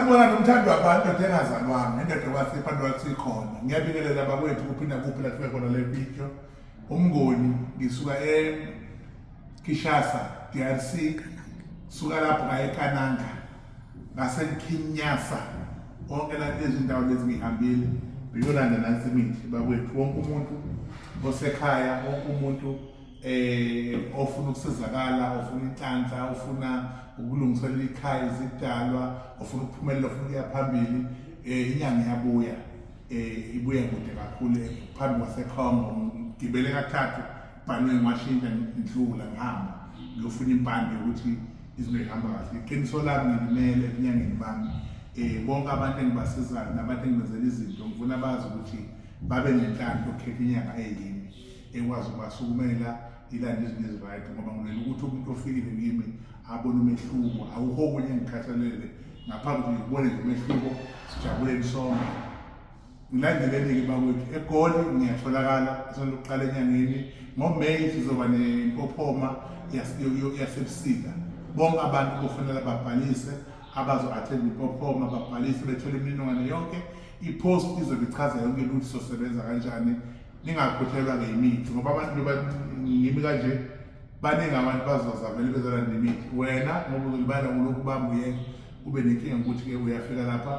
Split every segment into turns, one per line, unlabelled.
Ngibona nomthando wabantu ndoda engazalwanga indoda kwasipha abantu wasikhona ngiyabingelela bakwethu kuphinda kuphi la sibe khona le video umngoni ngisuka eKishasa DRC suka lapho ngaye eKananga ngaseKinyasa konke la lezindawo lezi ngihambile biyolanda nansi imithi bakwethu wonke umuntu osekhaya wonke umuntu eh ofuna ukusizakala ofuna inhlanhla ofuna ukulungiselela ikhaya izidalwa ofuna ukuphumelela ofuna ukuya phambili eh inyanga iyabuya eh ibuya kude kakhulu eh, phambi kwasekhongo ngibele kathathu bhanwe ngiwashintsha ngidlula ngihamba ngiyofuna impande ukuthi izinto zihamba kahle iqiniso lami ngilimele enyangeni bami eh bonke abantu engibasizayo nabantu engibenzela izinto ngifuna bazi ukuthi babe nenhlanhla ukukhetha inyanga eyini ekwazi ukubasukumela ilanda izinto ezirayithi ngoba ngilela ukuthi umuntu ofikile kimi abone umehluko awukho okunye engikhathalele ngaphambi kokuthi ngikubone nje umehluko sijabuleni sonke ngilandeleni-ke bakwethu egoli ngiyatholakala esandokuqala enyangeni ngomeyi sizoba nempophoma yasebusika bonke abantu kufanele babhalise abazo-athenda impophoma babhalise bethole imininingwane yonke ipost izobe ichaza yonke lutho sosebenza kanjani ningakhuthelwa ngemithi ngoba abantu ngimi kanje baningi abantu bazozavele bezolanda imithi wena ngoba uzolibala kulokhu bamba uyeke ube nenkinga ngokuthi-ke uyafika lapha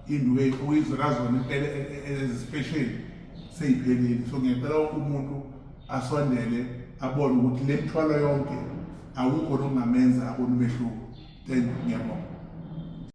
induke uyizolazona impela e, e, e, ezisipesheli seyiphelile so ngiyacela wonke umuntu asondele abone ukuthi le mthwalo yonke akukho nokungamenza abone umehluko thank you ngiyabonga